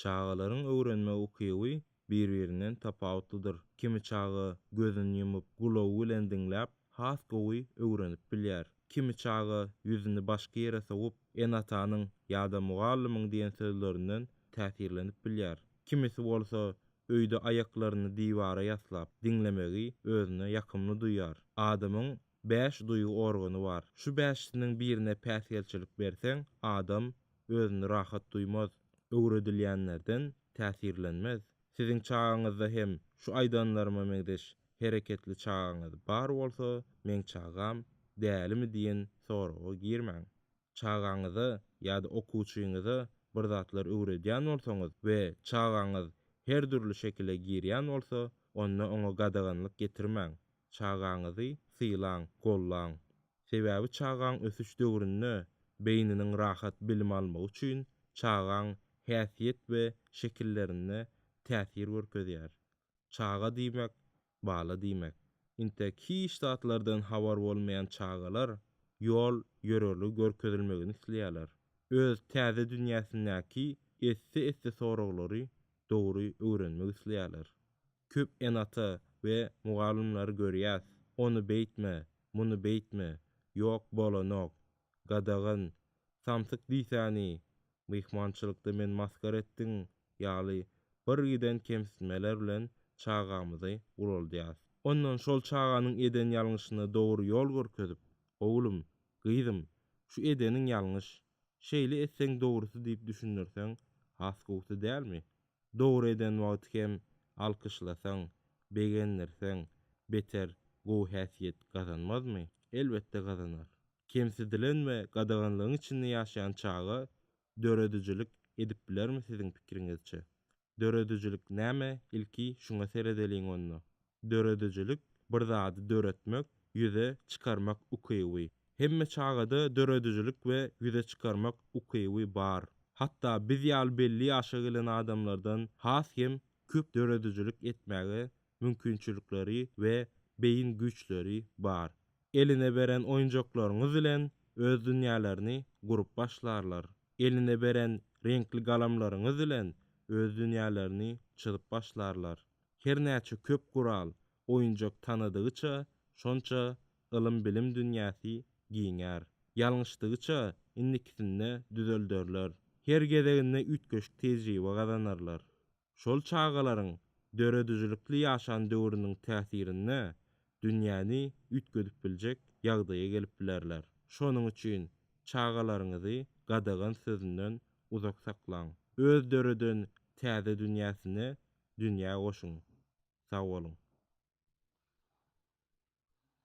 Çagalaryň öwrenme ukyby bir-birinden tapawutlydyr. Kimi çaga gözüni ýumup, gulagy bilen diňläp, has gowy öwrenip bilýär. Kimi çaga ýüzüni başga ýere sowup, ene-atanyň ýa-da mugallymyň diýen sözlerinden täsirlenip bilýär. Kimisi bolsa öýde aýaklaryny diwara ýaslap, diňlemegi özüne ýakymly duýýar. Adamyň Bäş duýgy organy bar. Şu bäşisiniň birine päsgelçilik berseň, adam özüni rahat duýmaz, öwredilýänlerden täsirlenmez. Siziň çagaňyzda hem şu aýdanlaryma meňzeş hereketli çagaňyz bar bolsa, meň çagam dälimi diýen soraga girmäň. Çagaňyza ýa-da okuwçyňyza bir zatlar öwredýän bolsaňyz we çagaňyz her dürli şekile girýän bolsa, onda oňa gadaganlyk getirmäň. Çagaňyzy sylaň, gollaň. Sebäbi çagaň ösüş döwründe beýniniň rahat bilim almagy üçin çagaň häsiýet we şekillerinde täsir görkezýär. Çaga diýmek, Bala diýmek. Intek hiç zatlardan habar bolmaýan çagalar ýol ýörerli görkezilmegini isleýärler. Öz täze dünýäsindäki esse-esse soraglary dogry öwrenmek isleýärler. Köp ene-ata we mugallymlary görýäs, ony beýtme, muny beýtme, ýok bolanok, gadagan, samsyk diýsäni, myhmançylykda meni masgara etdiň ýaly bir giden kemsitmeler bilen çagamyzy guraldýas. Ondan şol çaganyň eden ýalňyşyna dogry ýol görkezip, Oglum, gyzym, şu edeniň ýalňyş, şeýle etseň dogrusy diýip düşündirseň has gowusy dälmi? Dogry eden wagty hem alkyşlasaň, begendirseň, beter gowy häsiýet gazanmazmy? Elbetde gazanar. kemsidilen we gadaganlygyň içinde ýaşaýan çaga döredijilik edip bilermi siziň pikiriňizçe? Döredijilik näme ilki şuňa seredeliň onda. Döredijilik bir zady döretmek, ýüze çykarmak ukyby. Hemme çagada döredijilik we ýüze çykarmak ukyby bar. Hatda biz ýaly belli ýaşa gelen adamlardan has hem köp döredijilik etmäge mümkinçilikleri we beýin güýçleri bar. eline beren oýunjaklaryňyz bilen öz dünýälerini gurup başlarlar. Eline beren reňkli galamlaryňyz bilen öz dünýälerini çyzyp başlarlar. Her näçe köp gural, oýunjak tanadygyça, şonça ylym-bilim dünýäsi giňär. Ýalňyşdygyça, indikisinde düzelderler. Her gezeginde üýtgeşik tejribe gazanarlar. Şol çagalaryň döredijilikli ýaşan döwrüniň täsirinde dünýäni üýtgedip biljek ýagdaýa gelip bilerler. Şonuň üçin çagalaryňyzy gadagan sözünden uzak saklaň. Öz döreden täze dünýäsine dünýä goşuň. Sag boluň!